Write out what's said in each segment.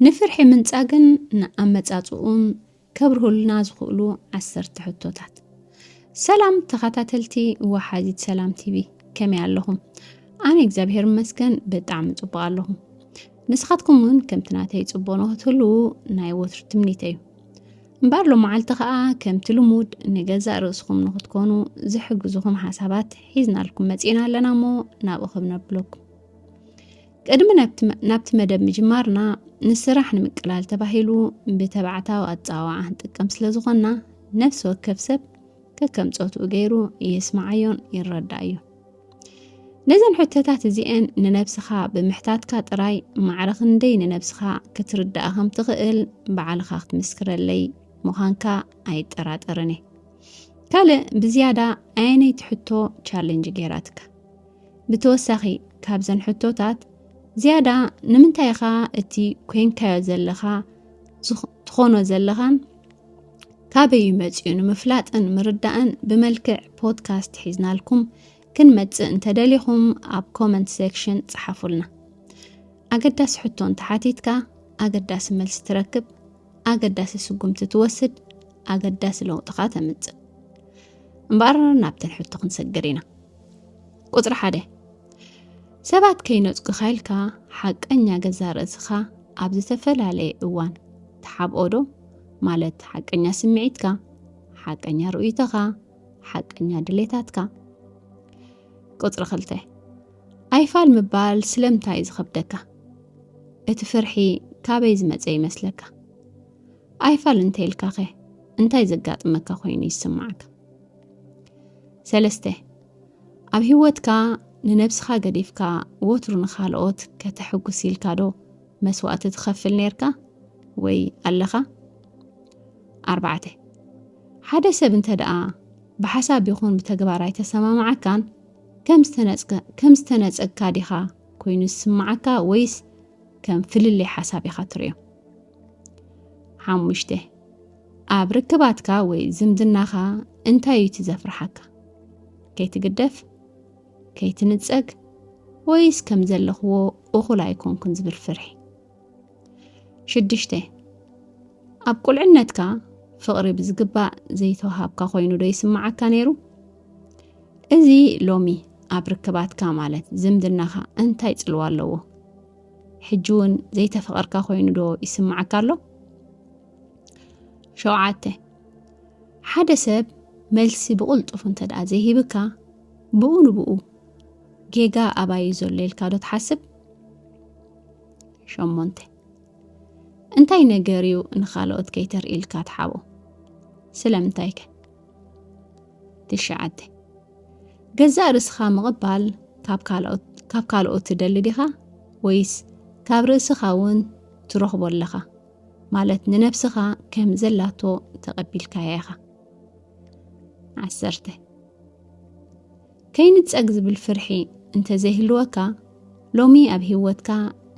ንፍርሒ ምንጻግን ንኣመጻጽኡን ከብርሁልና ዝኽእሉ ዓሰርተ ሕቶታት። ሰላም ተኸታተልቲ ወሓዚት ሰላም ቲቪ ከመይ ኣለኹም? ኣነ እግዚኣብሔር ይመስገን ብጣዕሚ ጽቡቕ ኣለኹ። ንስኻትኩም እውን ከምቲ ናተይ ጽቡቕ ንኽትህልዉ ናይ ወትሩ ትምኒተ እዩ። እምበር ሎመዓልቲ ከዓ ከምቲ ልሙድ ንገዛእ ርእስኹም ንኽትኮኑ ዝሕግዝኹም ሓሳባት ሒዝናልኩም መጺእና ኣለና እሞ ናብኡ ክብነብለኩም ቅድሚ ናብቲ መደብ ምጅማርና ንስራሕ ንምቅላል ተባሂሉ ብተባዕታዊ ኣፀዋውዓ ንጥቀም ስለ ዝኾንና ነፍሲ ወከፍ ሰብ ከከም ፆትኡ ገይሩ የስማዓዮን ይረዳእዮ ነዘን ሕቶታት እዚአን ንነብስኻ ብምሕታትካ ጥራይ ማዕረ ክንደይ ንነብስኻ ክትርዳእ ከም ትኽእል በዓልኻ ክትምስክረለይ ምዃንካ ኣይጠራጠርን እየ ካልእ ብዝያዳ ኣየነይቲ ሕቶ ቻለንጅ ገይራትካ ብተወሳኺ ካብዘን ሕቶታት ዝያዳ ንምንታይ ኢኻ እቲ ኮንካዮ ዘለኻ ትኾኖ ዘለኻን ካበይ እዩ መፂኡ ንምፍላጥን ምርዳእን ብመልክዕ ፖድካስት ሒዝናልኩም ክንመፅእ እንተደሊኹም ኣብ ኮመንት ሴክሽን ፀሓፉልና ኣገዳሲ ሕቶ እንተሓቲትካ ኣገዳሲ መልሲ ትረክብ ኣገዳሲ ስጉምቲ ትወስድ ኣገዳሲ ለውጥኻ ተምፅእ እምበኣር ናብተን ሕቶ ክንሰግር ኢና ቁፅሪ ሓደ ሰባት ከይነፅጉ ኸልካ ሓቀኛ ገዛ ርእስኻ ኣብ ዝተፈላለየ እዋን ተሓብኦዶ ማለት ሓቀኛ ስምዒትካ፣ ሓቀኛ ርእይቶኻ፣ ሓቀኛ ድሌታትካ። ቁፅሪ ክልተ ኣይፋል ምባል ስለምንታይ እዩ ዝኸብደካ? እቲ ፍርሒ ካበይ ዝመፀ ይመስለካ? ኣይፋል እንተይልካኸ እንታይ ዘጋጥመካ ኮይኑ ይስማዓካ? ሰለስተ ኣብ ህይወትካ ንነብስኻ ገዲፍካ ወትሩ ንኻልኦት ከተሕጉስ ኢልካ ዶ መስዋእቲ ትኸፍል ነርካ ወይ ኣለኻ ኣርባዕተ ሓደ ሰብ እንተ ደኣ ብሓሳብ ይኹን ብተግባር ኣይተሰማማዓካን ከም ዝተነጸግካ ዲኻ ኮይኑ ዝስምዓካ ወይስ ከም ፍልልይ ሓሳብ ኢኻ ትርእዮ ሓሙሽተ ኣብ ርክባትካ ወይ ዝምድናኻ እንታይ እዩ እቲ ዘፍርሓካ? ከይትግደፍ፣ ከይትንጸግ፣ ወይስ ከም ዘለኽዎ እኹል ኣይኮንኩን ዝብል ፍርሒ? ሽዱሽተ ኣብ ቁልዕነትካ ፍቕሪ ብዝግባእ ዘይተዋሃብካ ኮይኑ ዶ ይስምዓካ ነይሩ? እዚ ሎሚ ኣብ ርክባትካ ማለት ዝምድናኻ እንታይ ጽልዋ ኣለዎ? ሕጂ እውን ዘይተፈቐርካ ኮይኑ ዶ ይስምዓካ ኣሎ? ሸውዓተ ሓደ ሰብ መልሲ ብቕልጡፍ እንተ ደኣ ዘይሂብካ ብኡ ንብኡ ጌጋ ኣባዩ ዘሎ ኢልካ ዶ ትሓስብ ሸሞንተ እንታይ ነገር እዩ ንኻልኦት ከይተርኢ ኢልካ ትሓቦ ስለምንታይ ከ ትሽዓተ ገዛእ ርእስኻ ምቕባል ካብ ካልኦት ካብ ካልኦት ትደሊ ዲኻ ወይስ ካብ ርእስኻ እውን ትረኽቦ ኣለኻ ማለት ንነብስኻ ከም ዘላቶ ተቐቢልካያ ኢኻ ዓሰርተ ከይንጸግ ዝብል ፍርሒ እንተዘይህልወካ ሎሚ ኣብ ህይወትካ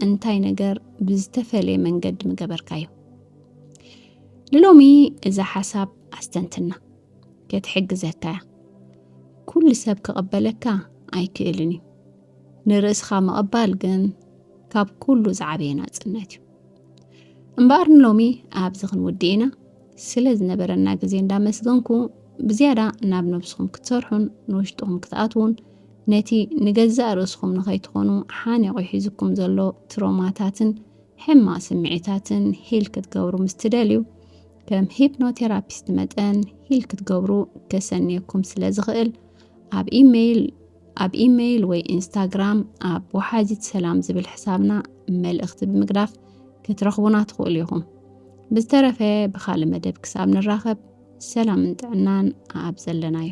እንታይ ነገር ብዝተፈለየ መንገዲ ምገበርካዮ ንሎሚ እዛ ሓሳብ ኣስተንትና ከትሕግዘካ እያ ኩሉ ሰብ ክቐበለካ ኣይክእልን እዩ ንርእስኻ ምቕባል ግን ካብ ኩሉ ዝዓበየ ናጽነት እዩ እምበኣር ንሎሚ ኣብዚ ክንውድእ ኢና ስለ ዝነበረና ግዜ እንዳመስገንኩ ብዝያዳ ናብ ነብስኹም ክትሰርሑን ንውሽጥኹም ክትኣትዉን ነቲ ንገዛእ ርእስኹም ንኸይትኾኑ ሓኒቑ ሒዝኩም ዘሎ ትሮማታትን ሕማቕ ስምዒታትን ሂል ክትገብሩ ምስ ትደልዩ ከም ሂፕኖቴራፒስት መጠን ሂል ክትገብሩ ከሰንየኩም ስለ ዝኽእል ኣብ ኢሜይል ኣብ ኢመይል ወይ ኢንስታግራም ኣብ ወሓዚት ሰላም ዝብል ሕሳብና መልእኽቲ ብምግዳፍ ክትረኽቡና ትኽእሉ ኢኹም። ብዝተረፈ ብኻልእ መደብ ክሳብ ንራኸብ ሰላምን ጥዕናን ኣብ ዘለናዮ